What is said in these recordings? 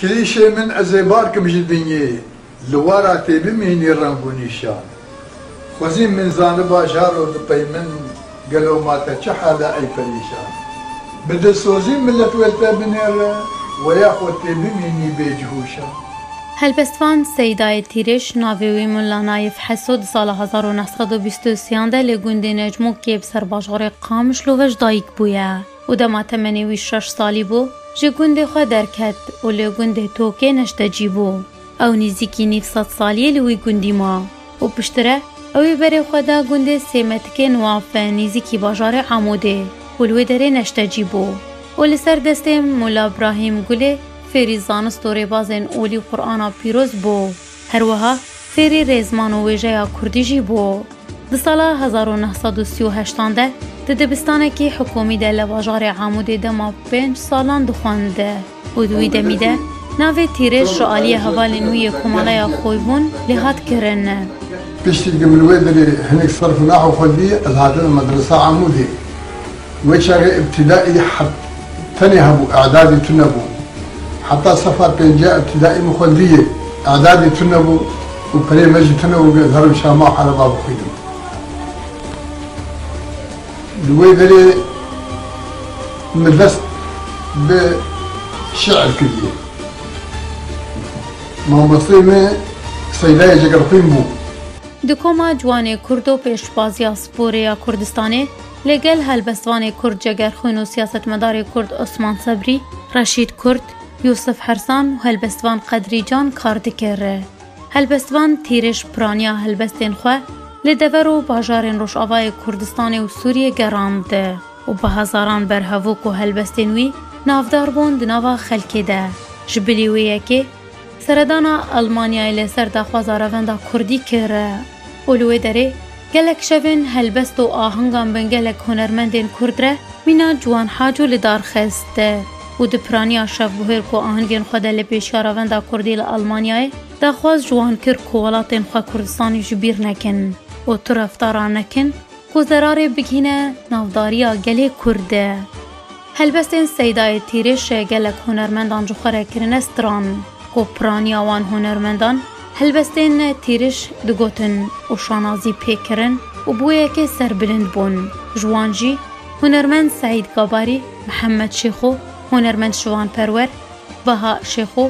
Klîşê min ez ê barkim ji dinyê, li wara tê bimînî reng û nîşan. Xwezî min zaniba jaro dipey min gelo ma te çi hal e ey perîşan. Bi dilsozî milet wê li te binêre, weya xwe tê bimînî bê cih û şan. Helbestvan Seydayê Tîrêş, navê wî Mulla Nayif Heso di sala hezar û neh sed û bîst û sîyan de li gundê Necmokiyê bi ser bajarê Qamişlo ve ji dayik bûye. û dema temenê wî şeş salî bû, ji gundê xwe derket û li gundê Tokê neştecî bû. Ew nîzîkî nîv sed salî li wî gundî ma û piştre ew ê berê xwe da gundê Sêmetikê Nuafe nîzîkî bajarê Amûdê û li wê derê neştecî bû û li ser destê Mûla Brahîm Gulê fêrî zanist û rêbazên olî Qur'ana pîroz bû. Her wiha fêrî rêzman û wêjeya kurdî jî bû. Di sala hezar û neh sed û sî û heştan de di dibistanekî hikûmî de li bajarê Amûdê dema pênc salan dixwend û di wî demî de navê Tîrêj ji aliyê hevalên wî yê Komaleya Xoybûn lê hat kirin. Piştî ku min wê derê hinek serf û naxwe xwendî, ez hatinim Medresa Amûdê. Wê çaxê îbtîdaî tenê hebû, îdadî tune bû. Heta sefa pêncîya îbtîdaî min xwendîyê, îdadî tune bû û pirê me jî tune bû ku ez herim şama û ereba bixwînim. Li wê derê min dest bi şîir kiriye. Mamosteyê me Seydayê Cegerxwîn bû. Di koma ciwanê kurd û pêşbazîya sporê ya Kurdistanê, Li gel helbestvanê Kurd Cegerxwîn û siyasetmedarê Kurd Osman Sebrî, Reşîd Kurd, Yûsif Hersan û helbestvan Qedrî Can kar dikir. Helbestvan Tîriş piraniya helbestên xwe li dever û bajarên Rojavayê Kurdistanê û Sûriyê gerand û bi hezaran berhevok û helbestên wî navdar bûn di nava xelkê de. Ji bilî wê yekê, Seredana Elmanyayê li ser daxwaza revenda kurdî kir û li wê derê gelek şevên helbest û ahengan bin gelek hunermendên kurd re mîna ciwan Haco li dar xist û di piraniya şevbûhêr ku ahengên xwe de li pêşiya revenda kurdî li Elmanyayê daxwaz ji wan kir ku welatên xwe Kurdistanê ji bîr nekin û tu reftaran nekin ku zerarê bigihîne navdariya gelê kurd. Helbestên Seydayê Tîrêşê gelek hunermendan ji xwe re kirine stran ku piraniya wan hunermendan helbestên Tîrêş digotin û şanazî pê kirin û bi wê yekê serbilind bûn. Ji wan jî hunermend Seîd Gabarî, Mihemed Şêxo, hunermend Şivan Perwer, Baha Şêxo,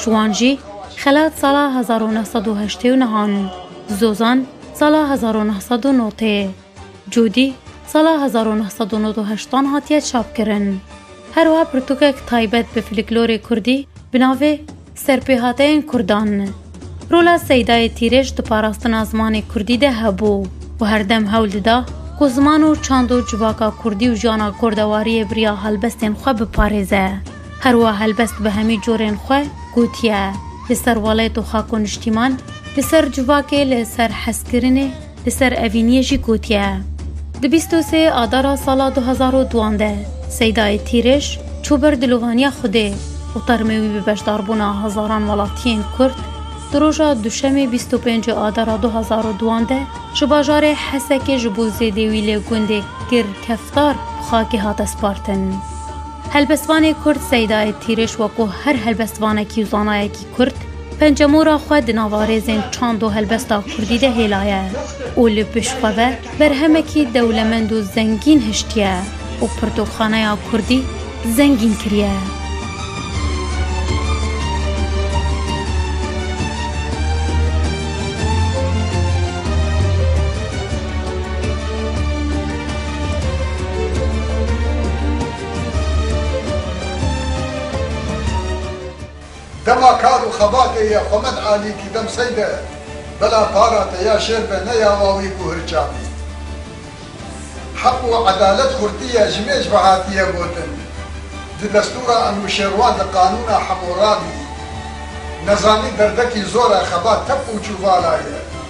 Ji wan jî xelat sala hezar û neh sed û heştê û neh an, Zozan sala hezar û neh sed û nod tê. Cûdî sala hezar û neh sed û nod û heşt an hatiye çapkirin. Her wiha pirtûkek taybet bi filiklorê kurdî bi navê Serpêhateyên Kurdan. Rola Seydayê Tîrêj di parastina zimanê kurdî de hebû û herdem hewl dida ku ziman û çand û civaka kurdî û jiyana kordewariyê bi riya helbestên xwe biparêze. Herwa helbest bi hemî corên xwe gotiye, Li ser welêt û xak û niştîman, li ser civakê, li ser hezkirinê, li ser evîniyê jî gotiye. Di bîst û sê adara sala du hezar û duan de Seydayê Tîrêj çû ber dilovaniya Xwedê û termê wî bi beşdarbûna hezaran welatiyên Kurd di roja Duşemê bîst û pênc adara du hezar û duan de ji bajarê Hesekê ji bo zêdê wî lê gundê Girkeftar bi xakê hate spartin. Helbestvanê Kurd Seydayê Tîriş wekû her helbestvanekî û zanayekî Kurd, pencemora xwe di nava rêzên çand û helbesta Kurdî de hêlaye û li pişt xwe ve berhemekî dewlemend û zengîn hiştiye û pirtûkxaneya Kurdî zengîn kiriye. Dema kar û xebatê ye Xwemed Alî kî dem sey de bela para te ya şêr be ne ya wawî ku hirça bî. Heq û edalet xurtî ye ji mêj ve hatiye gotin. Di destûra Enûşêrwan di qanûna Hemûrabî. Nezanî derdekî zor e xebat tep û çûvala ye.